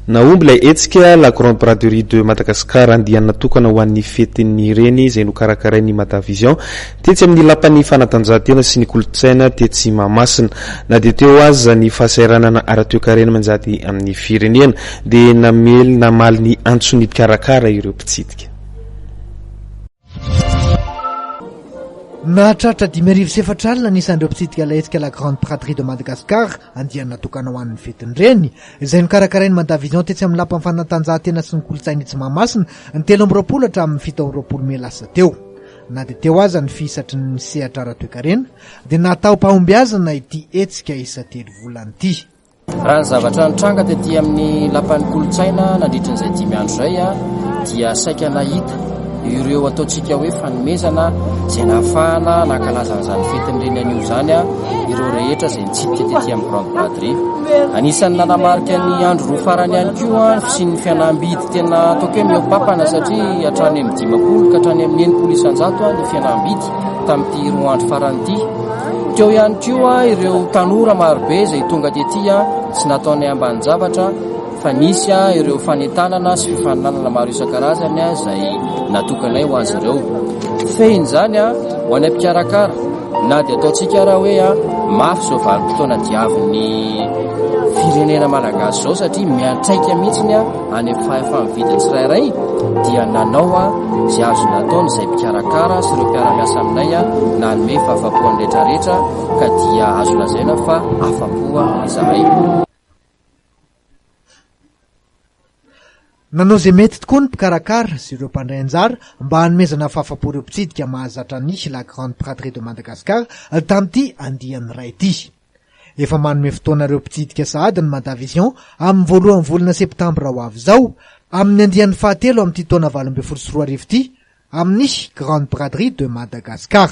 Nahomby ilay hetsika La Grande Braderie de Madagascar, andiany natokana ho an'ny Fetin'ny Reny, izay nokarakarain'ny Madavision, tetsy amin'ny Lapan'ny Fanatanjahantena sy ny Kolontsaina tetsy Mahamasina. Na dia teo aza ny fahasahiranana ara-toekarena manjady amin'ny firenena, dia namely namaly ny antson'ny mpikarakara ireo mpitsidika. Nahatratra dimy arivo sy efatra alina ny isan'ireo mpitsidika ilay hetsika La Grande Praterie de Madagascar, andiany natokana ho an'ny fetin-dreny, izay nokarakarain'ny Mada Vision tetsy amin'ny Lapan'ny fanatanjahantena sy ny kolontsaina etsy Mahamasina, ny telo amby roapolo hatramin'ny fito amby roapolo mey lasa teo. Na dia teo aza ny fihisatry ny sehatra ara-toekarena, dia nataom-pahombiazana ity hetsika isa-telo volana ity. Raha ny zavatra nitranga tety amin'ny Lapan'ny Kolontsaina nandritry izay dimy andro izay dia saika nahita ireo ataontsika hoe fanomezana izay nahafahana nankalaza an'izany fetin'ireny anio izany ireo rehetra izay nitsidika tety amin'ny grande braderie anisan'ny nanamarika ny andro roa farany ihany koa ny fisian'ny fianambidy tena ataoko hoe mihoam-pampana satria hatrany amin'ny dimampolo ka hatrany amin'ny enimpolo isan-jato ny fianambidy tamin'ity roa andro farany ity. Teo ihany koa ireo tanora marobe izay tonga tety sy nataonay ambanin-javatra fa nisy ireo fanentanana sy fifaninanana maro isan-karazany izay natokanay ho azy ireo. Fehiny izany ho any am-pikarakara na dia ataontsika raha hoe mafy izao vanim-potoana diavin'ny firenena malagasy izao satria miantraika mihitsy ny Any amin'ny fahefany vita tsirairay dia nanao izay azony ataony izay mpikarakara sy ireo mpiara-miasa aminay nanome fahafapoany retraretra ka dia azo lazaina fa afapoa izahay. Nanao izay mety tokoa ny mpikarakara sy ireo mpandray anjara mba hanomezana fahafapo ireo mpitsidika mahazatra ny La Grande Braderie de Madagascar tamin'ity andiany iray ity. Efa manome fotoana ireo mpitsidika sahady ny Madavision amin'ny voalohan'ny volana septambra ho avy izao, amin'ny andiany fahatelo amin'ity taona valo ambin'ny folo sy roa arivo ity, amin'ny Grande Braderie de Madagascar.